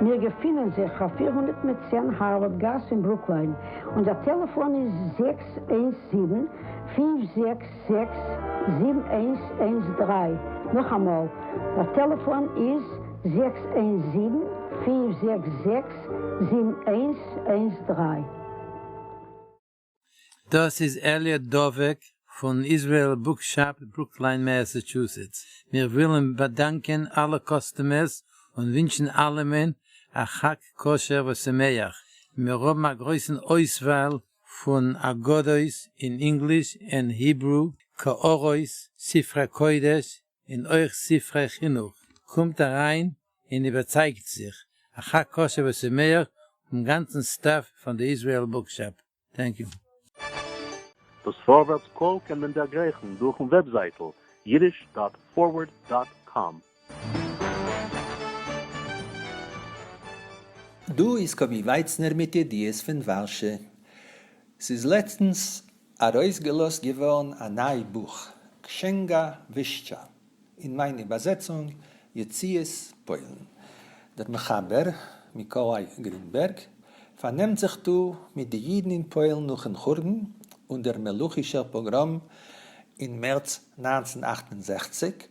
מיר געפינען זיך אויף פֿיר הונדערט מיט צען הארווארד גאס אין ברוקליין, און דער טעלעפאן איז זעקס איינס זיבן, פֿינף זעקס זעקס, זיבן איינס איינס דרײַ, נאכאמאל, דער טעלעפאן איז זעקס איינס זיבן, פֿינף זעקס זעקס, זיבן איינס איינס דרײַ. דאס איז עליאט דובק פון איזרעאל בוק שאפ ברוקליין מעסעטשוסעטס, מיר ווילען באדאנקען אלע קאסטומערס און ווינטשען אלעמען א חג כשר ושמח, מיר האבן א גרויסען אויסוואל פון אגדות אין ענגליש ענד היברו, קערות, ספרי קודש, און אויך ספרי חינוך, קומט אריין און איבערצייגט זיך, אחר קשיא ושמח, און גאנצן סטעף פון די איזריעל בוקשאפ. טענק יו. דאס פארווערטס קול קען מען דערגרייכן דורכן וועבזייטל יידיש דאט פארווערד דאט קאם. דא איז קאבי ווייצנער מיט ידיעות פון ווארשע. ס'איז לעצטנס. ארויסגעלאזט געווארן א ניי בוך קשענגא ווישטשא אין מיין איבערזעצונג יציאת פוילן. דער מחבר, מיקאליי גרינבערג, פארנעמט זיך דא מיט די אידן אין פוילן נאכן חורבן און דער מלוכישער פאגראם אין מערץ נײַנצן אַכט און זעכציק,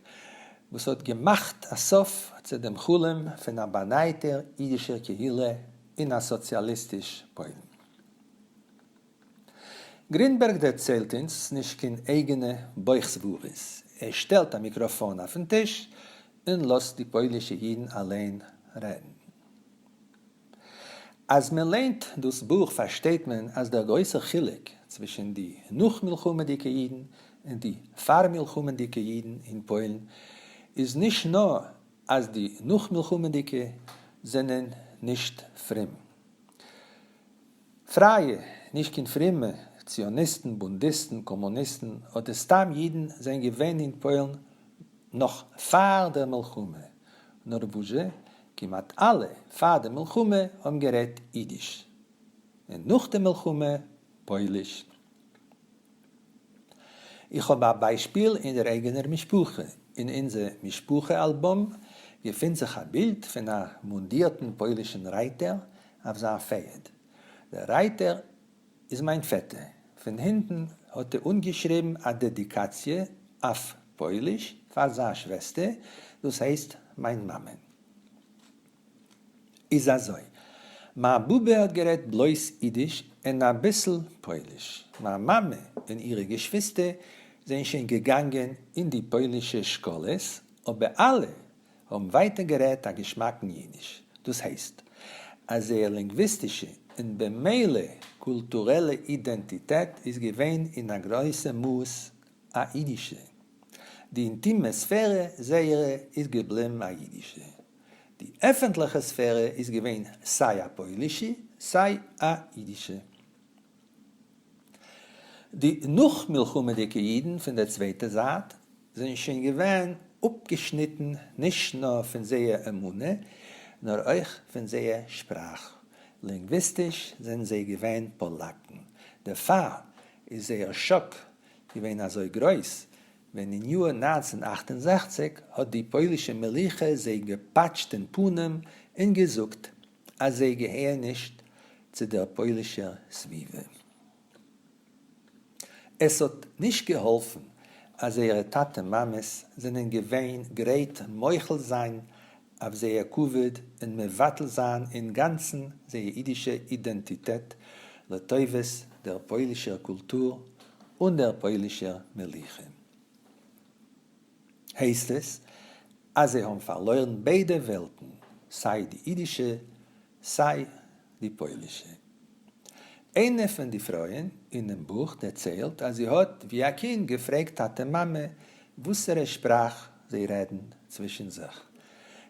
וואס האט געמאכט א סוף צו דעם חלום פון א באנייטער אידישער קהילה אין א סאציאליסטיש פוילן. גרינבערג דערציילט אונז נישט קיין אייגענע בויך סברות, ער שטעלט א מיקראפאן אויפן טיש און לאזט די פוילישע אידן אליין רעדן. אז מען ליינט דאס בוך פארשטייט מען אז דער גרויסער חילוק צווישן די נאך-מלחמה'דיגע אידן און די פאר-מלחמה'דיגע אידן אין פוילן איז נישט נאר אז די נאך-מלחמה'דיגע זענען נישט פרום, פרייע, נישט קיין פרומע, ציוניסטן, בונדיסטן, קאמוניסטן אדער סתם אידן זענען געווען אין פוילן נאך פאר דער מלחמה, נאר וואס זשע, כמעט אלע פאר דער מלחמה האבן גערעדט אידיש, און נאך דער מלחמה פויליש. איך האב א ביישפיל אין דער אייגענער משפחה, אין אונזער משפחה אלבום געפינט זיך א בילד פון א מונדירטן פוילישן רייטער אויף זיין פערד, דער רייטער איז מיין פעטער, פון הינטן האט ער אנגעשריבן א דעדיקאציע אויף פויליש פאר זיין שוועסטער, דאס הייסט מיין מאמען. איז אזוי, מיין באבע האט גערעדט בלויז אידיש און אביסל פויליש, מיין מאמע און אירע געשוויסטער זענען שוין געגאנגען אין די פוילישע שקאלעס, אבער אלע האבן ווייטער גערעדט א געשמאקן אידיש, דאס הייסט אז זייער לינגוויסטישע און במילא קולטורעלע אידענטיטעט איז געווען אין א גרויסע מאס א אידישע, די אינטימע ספערע זייערע איז געבליבן א אידישע, די עפענטליכע ספערע איז געווען סיי א פוילישע סיי א אידישע. די נאכמלחמה'דיגע אידן פון דער צווייטער זייט זענען שוין געווען אפגעשניטן נישט נאר פון זייער אמונה נאר אויך פון זייער שפראך, לינגוויסטיש זענען זיי געווען פאלאקן, דערפאר איז זייער שאק געווען אזוי גרויס ווען אין יאר נײַנצן הונדערט אַכט און זעכציק האט די פוילישע מלוכה זיי געפאטשט אין פנים און געזאגט אז זיי געהערן נישט צו דער פוילישער סביבה. עס האט נישט געהאלפן אז זייערע טאטע מאמעס זענען געווען גרייט מוחל זיין אויף זייער כבוד און מבטל זיין אינגאנצן זייער אידישע אידענטיטעט לטובת דער פוילישער קולטור און דער פוילישער מלוכה. הייסט עס אז זיי האבן פארלוירן ביידע וועלטן, סיי די אידישע סיי די פוילישע. איינע פון די פרויען אינעם בוך דערציילט אז זי האט ווי א קינד געפרעגט טאטע מאמע וואסערע שפראך זיי רעדן צווישן זיך.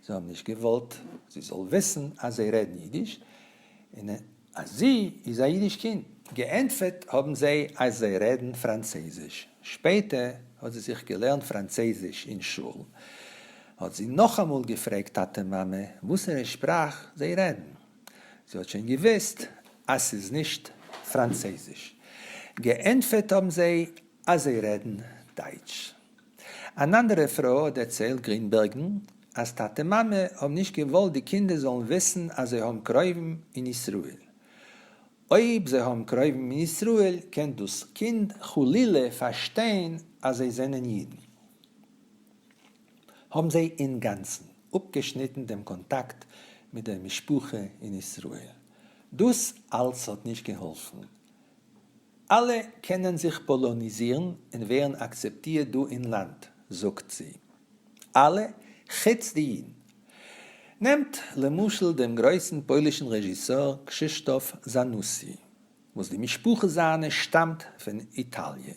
זיי האבן נישט געוואלט זי זאל וויסן אז זיי רעדן אידיש און אז זי איז א אידיש קינד. געענטפערט האבן זיי אז זיי רעדן פראנצויזיש. שפעטער האט זי זיך געלערנט פראנצויזיש אין שול. האט זי נאכאמאל געפרעגט טאטע מאמע וואסערע שפראך זיי רעדן, זי האט שוין געוויסט אז ס'איז נישט פראנצעזיש, געענטפערט האבן זיי אז זיי רעדן דייטש. אן אנדערע פרוי האט דערציילט גרינבערגן אז טאטע מאמע האבן נישט געוואלט די קינדער זאלן וויסן אז זיי האבן קרובים אין ישראל, אויב זיי האבן קרובים אין ישראל קען דאס קינד חלילה פארשטיין אז זיי זענען אידן. האבן זיי אינגאנצן אפגעשניטן דעם קאנטאקט מיט דער משפחה אין ישראל. דאס אלס האט נישט געהאלפן. אלע קענען זיך פאלאניזירן און ווערן אקצעפטירט דא אין לאנד, זאגט זי. אלע, חוץ די אידן. נעמט, למשל, דעם גרויסן פוילישן רעזשיסאר קשישטאף זאנוסי, וואס די משפחה זיינע שטאמט פון איטאליע.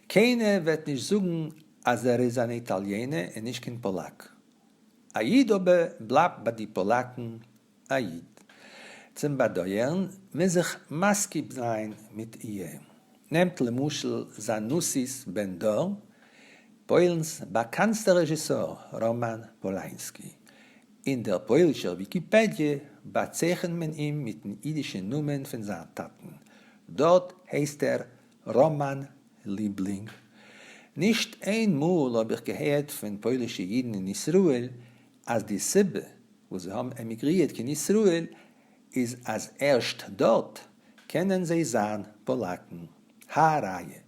קיינער וועט נישט זאגן אז ער איז אן איטאליענע און נישט קיין פאלאק. א איד אבער בלייבט ביי די פאלאקן א איד. צום באדויערן מוז איך מסכים זיין מיט איהם. נעמט למשל זאנוסי'ס בן דור, פוילן'ס באקאנסטער רעזשיסאר ראמאן פולאינסקי. אין דער פוילישער וויקיפעדיע באצייכענט מען אים מיטן אידישן נאמען פון זיין טאטן. דארט הייסט ער ראמאן ליבלינג, נישט איין מאל האב איך געהערט פון פוילישע אידן אין ישראל אז די סיבה וואס זיי האבן עמיגרירט קיין ישראל איז אז ערשט דארט קענען זיי זיין פאלאקן, הא ראיה,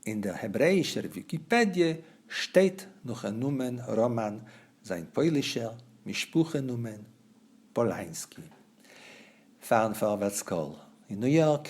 אין דער העברעאישער וויקיפעדיע שטייט נאכן נאמען ראמאן זיין פוילישער משפחה נאמען פאלאנסקי. פארן פארווערטס קול אין ניו יארק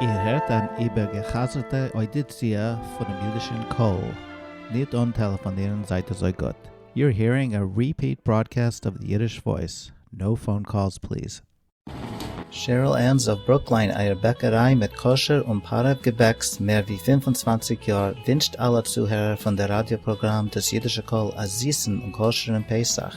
איר הערט אן איבערגעחזר'טע אוידיציע פונעם אידישן קול, ניט אן טעלעפאנירן זייט אזוי גוט. You're hearing a repeat broadcast of the Yiddish Voice, no phone calls please. שעריל ענס אוו ברוקליין אייער בעקעריי מיט כשר און פארעוו געבעקס מער ווי פֿינף און צוואַנציק יאר ווינטשט אלע צוהערער פון דער ראדיא פראגראם דאס אידישע קול א זיסן און כשר'ן פסח.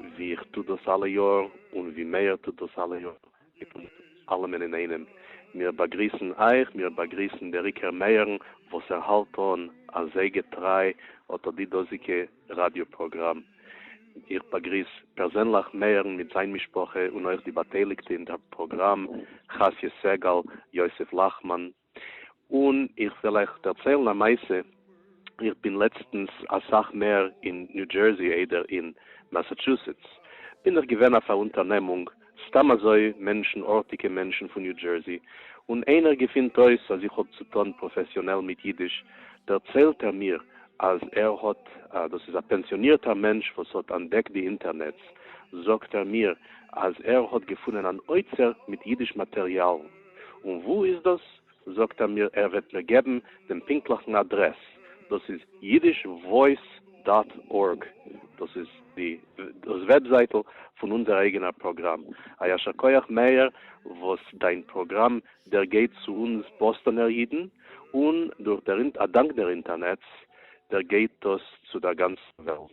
ווי איך טוה דאס אלע יאר, און ווי מאיר טוט דאס אלע יאר, מיט אונז אלעמען אינאיינעם. מיר באגריסן אייך, מיר באגריסן בעריקער מאיר'ן, וואס ער האלט אן אזוי געטריי אטא די דאזיגע ראדיא פראגראם. איך באגריס פערזענליך מאיר'ן מיט זיין משפחה, און אויך די באטייליגטע אין דער פראגראם, חסי' סגל, יוסף לאכמאן, און איך וועל אייך דערציילן א מעשה, איך בין לעצטנס אסאך מער אין ניו דזשערסי איידער אין מאסאטשוסעטס, בין איך געווען אויף א אונטערנעמונג, סתם אזוי מענטשן ארטיגע מענטשן פון ניו דזשערסי, און איינער געפינט אויס אז איך האב צו טון פראפעסיאנעל מיט אידיש, דערציילט ער מיר אז ער האט, דאס איז א פענסיאנירטער מענטש וואס האט אנדעקט די אינטערנעץ, זאגט ער מיר אז ער האט געפונען אן אוצר מיט אידיש מאטריאלן, און וואו איז דאס? זאגט ער מיר ער וועט מיר געבן דעם פונקטליכן אדרעס, דאס איז אידיש וואויס דאט ארג, דאס איז די דאס וועבזייטל פון אונזער אייגענער פראגראם, א ישר כח מאיר וואס דיין פראגראם דערגייט צו אונז באסטאנער אידן, און דורך דער אדאנק דער אינטערנעץ דערגייט דאס צו דער גאנצן וועלט.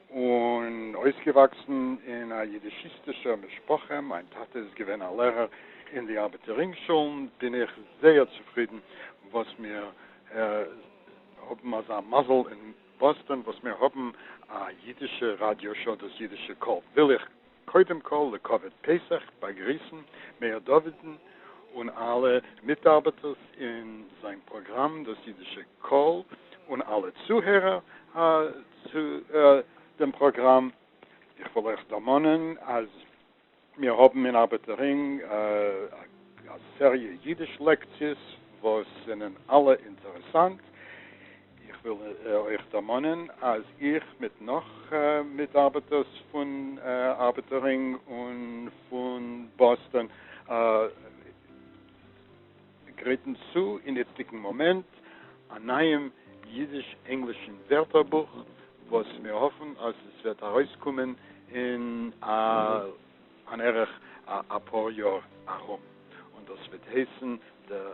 און אויסגעוואקסן אין א יידישיסטישער משפחה, מיין טאטע איז געווען א לערער אין די ארבעטער רינגשולן, בין איך זייער צופרידן וואס מיר האבן אזא מזל אין באסטאן וואס מיר האבן א יידישע ראדיא שאו דאס יידישע קול וויל איך. קודם כל לכבוד פסח באגריסן מאיר דוד'ן און אלע מיטארבעטערס אין זיין פראגראם דאס אידישע קול און אלע צוהערער צו דעם פראגראם. איך וויל אייך דערמאנען אז מיר האבן אין ארבעטער רינג א סעריע אידיש לעקציעס וואס זענען אלע אינטערעסאנט. איך וויל אייך דערמאנען אז איך מיט נאך מיטארבעטערס פון ארבעטער רינג און פון באסטאן גרייטן צו אין איצטיגן מאמענט א נייעם אידיש-ענגלישן ווערטערבוך וואס מיר האפן אז עס וועט ארויסקומען אין אן ערך אפאר יאר ארום און דאס וועט הייסן דער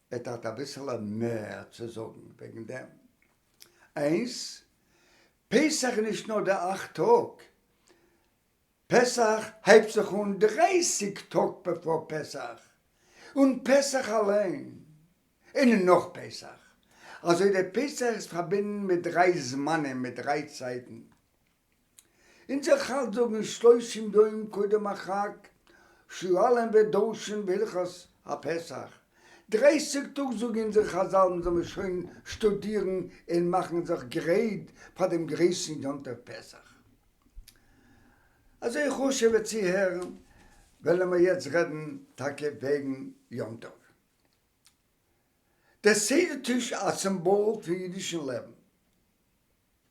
וועט האט אביסעלע מער צו זאגן וועגן דעם. איינס, פסח איז נישט נאר די אכט טאג, פסח הייבט זיך אן דרייסיג טאג בעפאר פסח, און פסח אליין, און נאך פסח, אזוי די פסח איז פארבינדן מיט דריי זמנים מיט דריי צייטן. אונזער חז ל זאגן שלושים יום קודם החג שיעלם ודרשן בהלכות הפסח, דרייסיג טאג זאגן אונזער חז ל זאל מען שוין שטודירן און מאכן זיך גרייט פאר דעם גרויסן יום טוב פסח. אזוי חשוב'ע צוהערן וועלן מיר יעצט רעדן טאקע וועגן יום טוב. דער סדר טיש א סימבאל פון אידישן לעבן.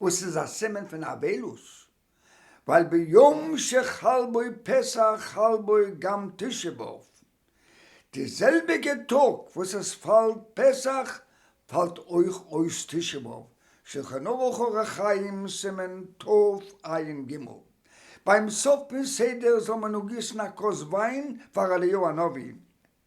וואס איז א סימן פון אבילות, ווייל ביום שחל בו פסח חל בו גם תשעה באב, די זעלביגע טאג וואס עס פאלט פסח פאלט אויך אויס תשעה באב, שולחן ערוך אורח חיים סימן תפ עין ג, ביים סוף פון סדר זאל מען אנגיסן א כוס וויין פאר אליהו הנביא,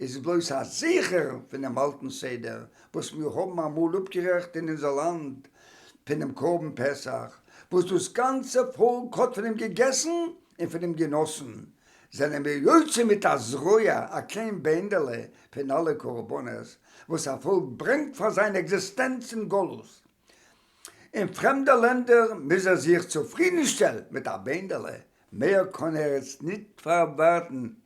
איז בלויז א זכר פונעם אלטן סדר וואס מיר האבן אמאל אפגערעכט אין אונזער לאנד פונעם קרבן פסח וואס דאס גאנצע פאלק האט פון אים געגעסן און פון אים גענאסן, זענען מיר יוצא מיט א זרוע, א קליין בענדעלע פון אלע קרבנות וואס א פאלק ברענגט פאר זיין עקזיסטענץ אין גלות. אין פרעמדע לענדער מוז ער זיך צופרידנשטעלן מיט א בענדעלע, מער קען ער עס נישט פארווארטן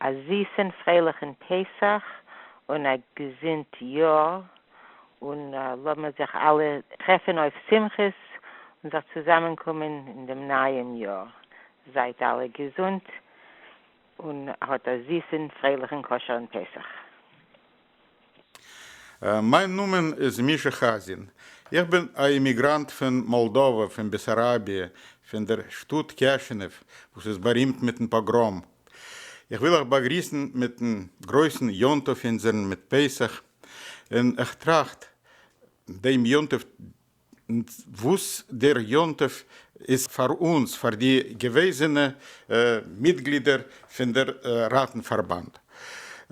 א זיסען פרייליכען פסח און א געזינט יאר און לאמיר זיך אלע טרעפען אויף שמחות און זיך צוזאמען קומען אין דעם נייעם יאר, זייט אלע געזונט און האט א זיסען פרייליכען כשר'ן פסח. מיין נאמען איז מישא חאזין, איך בין א אימיגראנט פון מאלדאווע, פון בעסאראביע, פון דער שטאט קעשענעוו, וואס איז בארימט מיטן פאגראם. איך וויל אייך באגריסן מיטן גרויסן יום טוב אונזערן מיט פסח, און איך טראכט דעם יום טוב, און וואס דער יום טוב איז פאר אונז פאר די געוועזענע מיטגלידער פון דער ראטן פארבאנד.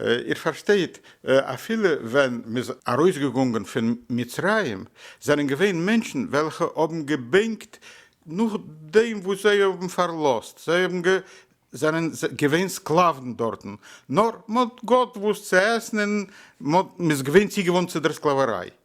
איר פארשטייט אפילו ווען מ'איז ארויסגעגאנגען פון מצרים זענען געווען מענטשן וועלכע האבן געבענקט נאכדעם וואס זיי האבן פארלאזט, זיי האבן זענען געווען סקלאוון דארטן, נאר מ'האט געהאט וואס צו עסן און מ'איז געווען צוגעוואונט צו דער סקלאוועריי.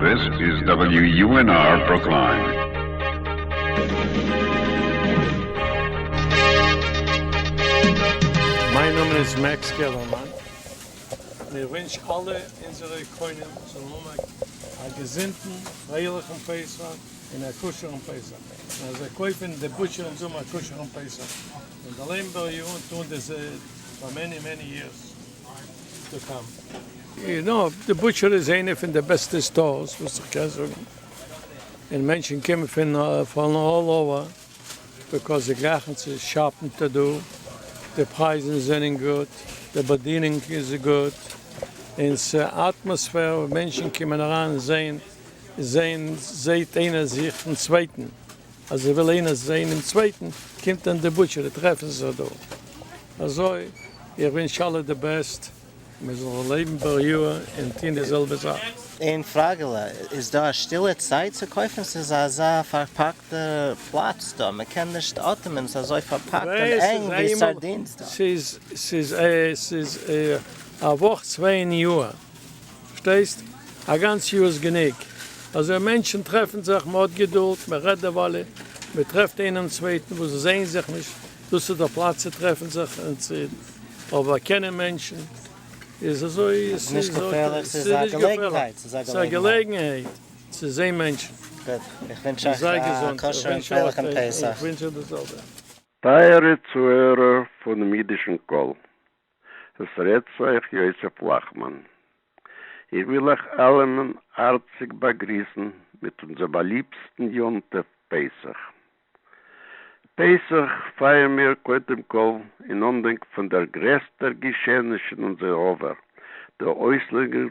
This is WUNR Brookline. מיין נאמען איז מעקס געלערמאן, און איך ווינטש אלע אונזערע קונים זאלן האבן א געזונטן פרייליכן פסח און א כשר'ן פסח, און אז זיי קויפן די בוטשער אונז האבן א כשר'ן פסח, און דערלעבן בער יאר און טוען די ז פאר מעני מעני יערס. יו נאו, די בוטשער איז איינע פון די בעסטע סטארס וואס איך קען זאגן, און מענטשן קומען פון פון אלל אווער ביקאויז זיי גלייכן צו שאפן ט ד, די פרייזן זענען גוט, די באדינונג איז גוט, און ס'אטמאספער וואו מענטשן קומען אריין און זעהן זעהן זעהט איינער זיך פון צווייטן, אז ער וויל איינער זעהן דעם צווייטן קומט אין די בוטשערי טרעפן זיך דא. אזוי, איך ווינטש אלע די בעסט, מיר זאלן לעבן בריאה און טוהן די זעלבע זאך. איין פראגעלע, איז דא א שטילע צייט צו קויפן? ס'איז אזא פארפאקטע פלאץ דא, מ'קען נישט אטעמען, ס'איז אזוי פארפאקט און ענג ווי סארדינס דא. ס'איז א וואך צוויי אין יאר, פארשטייסט? א גאנץ יאר איז גענוג, אזוי מענטשן טרעפן זיך, מ'האט געדולד, מ'רעדט דערווייל, מ'טרעפט איינעם צווייטן וואס זעהן זיך נישט דאס איז דער פלאץ צו טרעפן זיך און צו באקענען מענטשן, איז אזוי עס איז נישט געפערליך, עס איז א געלעגנהייט, עס איז א געלעגנהייט צו זען מענטשן. גוט, איך ווינטש אייך א כשר'ן פרייליכן פסח. טייערע צוהערער פונעם אידישן קול, עס רעדט צו אייך יוסף לאכמאן. איך וויל אייך אלעמען הארציג באגריסן מיט אונזער באליבסטן יום טוב פסח. פסח פייערן מיר קודם כל אין אנדענק פון דער גרעסטער געשעעניש אין אונזער עבר, די אויסלייגונג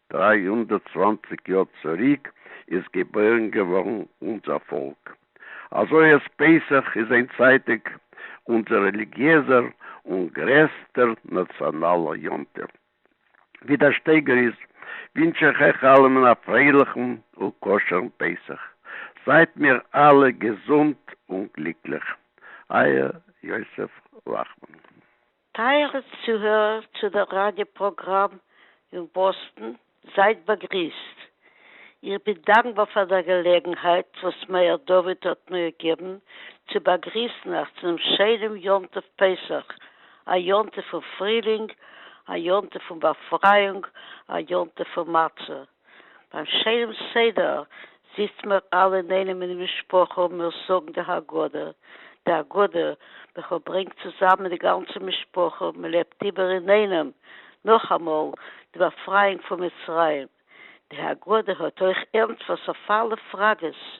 דרײַ הונדערט צוואַנציק יאר צוריק איז געבוירן געווארן אונזער פאלק, אזוי אז פסח איז איינצייטיג אונזער רעליגיעזער און גרעסטער נאציאנאלער יום טוב. ווי דער שטייגער איז, ווינטש איך אייך אלעמען א פרייליכן און כשר'ן פסח, זייט מיר אלע געזונט און גליקליך. אייער יוסף לאכמאן. טייערע צוהערער צו דער ראדיא פראגראם אין באסטן, זייט באגריסט. איך בין דאנקבאר פאר דער געלעגנהייט וואס מאיר דוד האט מיר געגעבן צו באגריסן אייך צו דעם שיינעם יום טוב פסח, א יום טוב פון פרילינג, א יום טוב פון באפרייאונג, א יום טוב פון מצה. ביים שיינעם סדר זיצט מיר אלע אינאיינעם אין די משפחה און מיר זאגן די הגדה, די הגדה וכו' ברענגט צוזאמען די גאנצע משפחה און מען לעבט איבער אינאיינעם נאכאמאל די באפרייאונג פון מצרים. די הגדה האט אויך ענטפערס אויף אלע פראגעס.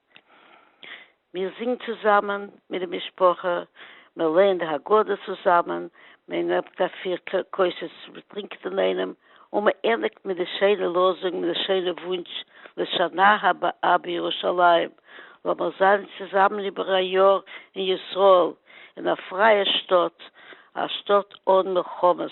מען זינגט צוזאמען מיט די משפחה, מען לערנט די הגדה צוזאמען, מען נעמט א פיר כוסות מען טרינקט אינאיינעם, און מען ענדיגט מיט די שיינע לאזונג מיט די שיינע וואונטש לשנה הבאה בירושלים, לאמיר זיין צוזאמען איבער א יאר אין ישראל, אין א פרייע שטאט, א שטאט אן מלחמות.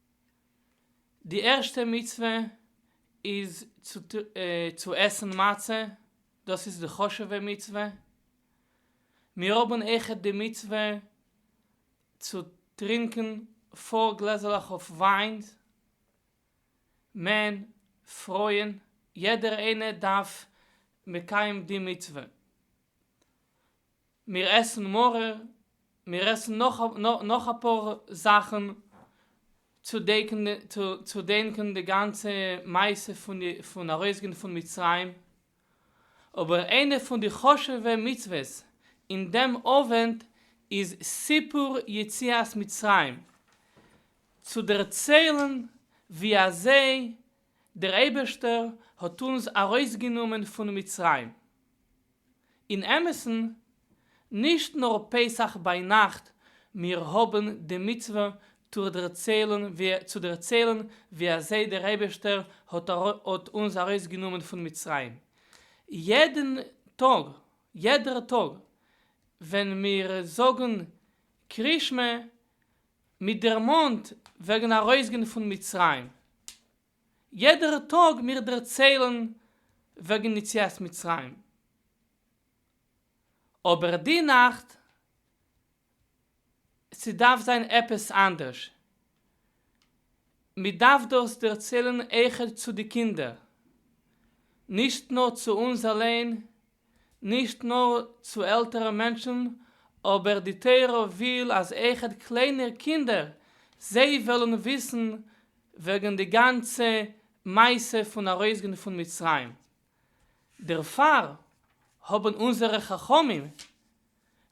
די ערשטע מצוה איז צו עסן מצה, דאס איז די חשוב'ע מצוה, מיר האבן אויכעט די מצוה צו טרינקען פאר גלעזעלעך אויף וויין, מען, פרויען, יעדער איינער דארף מקיים די מצוה. מיר עסן מרור, מיר עסן נאך אפאר זאכן צו דענקען די גאנצע מעשה פון ארויסגיין פון מצרים, אבער איינע פון די חשוב'ע מצוות אין דעם אווענט איז סיפור יציאת מצרים, צו דערציילן ווי אזוי דער אייבערשטער האט אונז ארויסגענומען פון מצרים. אין אמת'ן, נישט נאר פסח ביינאכט, מיר האבן די מצוה צו דערציילן ווי אזוי דער אייבערשטער האט אונז ארויסגענומען פון מצרים. יעדן טאג, יעדער טאג, ווען מיר זאגן קרישמע, מ'דערמאנט וועגן ארויסגיין פון מצרים, יעדער טאג מיר דערציילן וועגן יציאת מצרים, אבער די נאכט ס'דארף זיין עפעס אנדערש, מ'דארף דאס דערציילן איכער צו די קינדער, נישט נאר צו אונז אליין נישט נאר צו עלטערע מענטשן, אבער די תורה וויל אז איחוד קליינע קינדער זיי וועלן וויסן וועגן די גאנצע מעשה פון ארויסגיין פון מצרים, דערפאר האבן אונזערע חכמים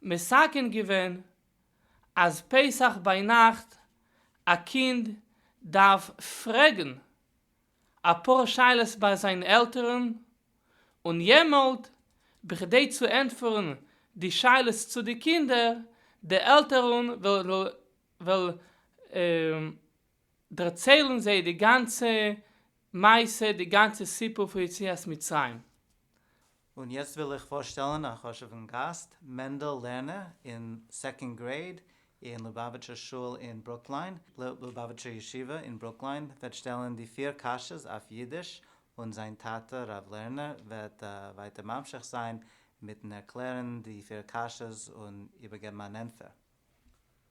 מסכם געווען אז פסח ביינאכט א קינד דארף פרעגן, אפאר שאלות ביי זיין עלטערן און יעמאלט בכדי צו ענטפערן די שאלות צו די קינדער די עלטערן וועלן דערציילן זיי די גאנצע מעשה די גאנצע סיפור פון יציאת מצרים. און יעצט וויל איך פארשטעלן א חשוב'ן גאסט, מענדל לערנער אין סעקאנד גרעיד אין לובאוויטשער שול אין ברוקליין, לובאוויטשער ישיבה אין ברוקליין, וועט שטעלן די פיר קשיות אויף אידיש, און זיין טאטע ר' לערנער וועט ווייטער ממשיך זיין מיטן ערקלערן די פיר קשיות און איבערגעבן אן ענטפער.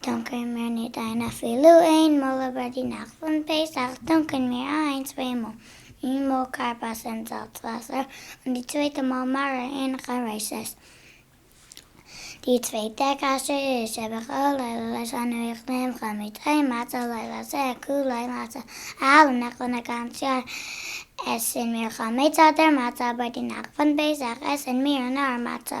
טונקען מיר ניט איין אפילו איין מאָל איבער די נאַכט פון פּסח, טונקען מיר איין צוויי מאָל, איין מאָל כרפס אין זאַלצוואַסער און די צווייטע מאָל מרה אין חרישת. די צווייטע קשיא איז שבכל לילה לשנה איך נעם חו מיט איין מצה לילה זה כולו מצה, אַהאַלע נאַכט פון אַ גאַנץ יאָר עסן מיר חמץ אָדער מצה אָבער די נאַכט פון פּסח עסן מיר נאָר מצה,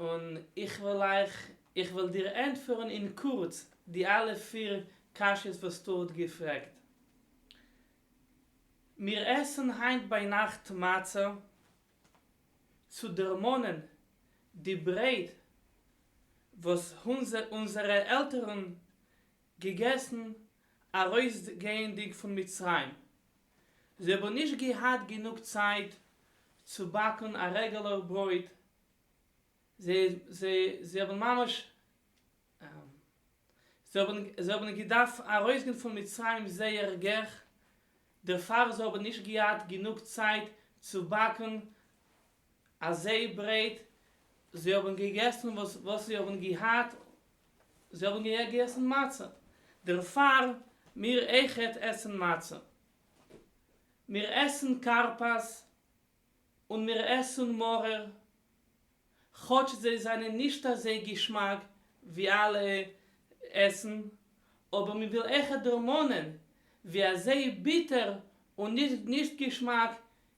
און איך וועל אייך, איך וועל דיר ענטפערן אין קורץ די אלע פיר קשיות וואס דו האט געפרעגט. מיר עסן היינט ביינאכט מצה צו דערמאנען די ברייט וואס אונזערע עלטערן געגעסן ארויסגייענדיג פון מצרים. זיי האבן נישט געהאט גענוג צייט צו באקן א רעגעלער ברויט, זיי האבן ממש זיי האבן געדארפט ארויסגיין פון מצרים זייער געך, דערפאר זיי האבן נישט געהאט גענוג צייט צו באקן אזוי ברייט, זיי האבן געגעסן וואס זיי האבן געהאט, זיי האבן געגעסן מצה, דערפאר מיר אויכעט עסן מצה, מיר עסן כרפס און מיר עסן מרור, כאטש זיי זענען נישט אזוי געשמאק ווי אלע עסן, אבער מען וויל אויכעט דערמאנען ווי אזוי ביטער און נישט געשמאק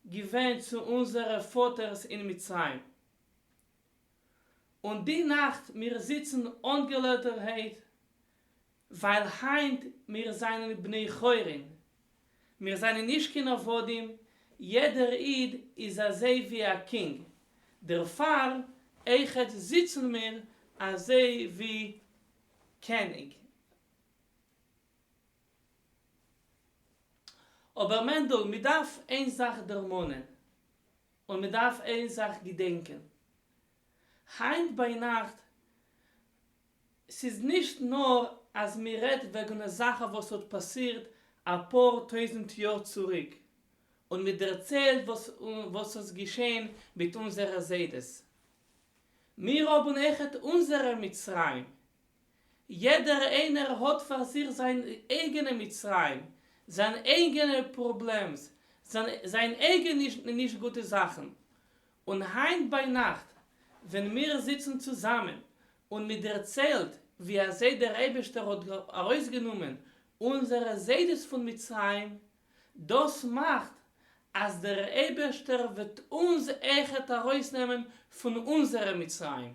געווען צו אונזערע פאטערס אין מצרים. און די נאכט מיר זיצן אנגעלויטערהייט, ווייל היינט מיר זענען בני חורין, מיר זענען נישט קיין עבדים, יעדער איד איז אזוי ווי א קינג, דערפאר עכט זיצן מיר אזוי ווי קעניג. אבער מענדל, מען דארף איין זאך דערמאנען, און מען דארף איין זאך געדענקען, היינט ביינאכט, ס'איז נישט נאר אז מען רעדט וועגן א זאך וואס האט פאסירט אפאר טויזנט יאר צוריק, און מען דערציילט וואס איז געשען מיט אונזערע זיידעס. מיר האבן עכט אונזערע מצרים. יעדער איינער האט פאר זיך זיין אייגענע מצרים, זיין אייגענע פראבלעמס, זיין אייגענע נישט גוטע זאכן, און היינט ביינאכט ווען מיר זיצן צוזאמען און מען דערציילט ווי אזוי דער אייבערשטער האט ארויסגענומען אונזערע זיידעס פון מצרים, דאס מאכט אז דער אייבערשטער וועט אונז עכט ארויסנעמען פון אונזערע מצרים.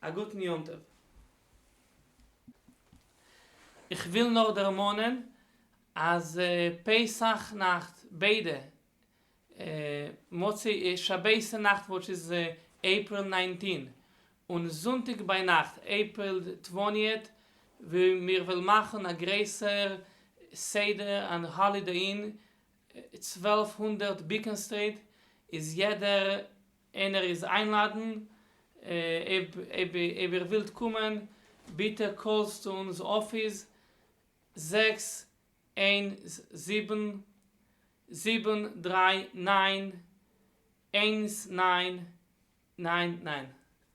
א גוטן יום טוב. איך וויל נאר דערמאנען אז פסח נאכט ביידע מוצאי שבת'ן נאכט וואטש איז עיפריל ניינטין און זונטאג ביינאכט עיפריל טווענטיעט מיר וועל מאכן א גרעסער סדר און האלידעי אין צוועלף הונדערט ביקען סטריט איז יעדער און ער איז איינלאדן אויב איר ווילט קומען ביטע קאלסט צו אונז אפיס זעקס איין זיבן זיבן דריי ניין איינס ניין ניין ניין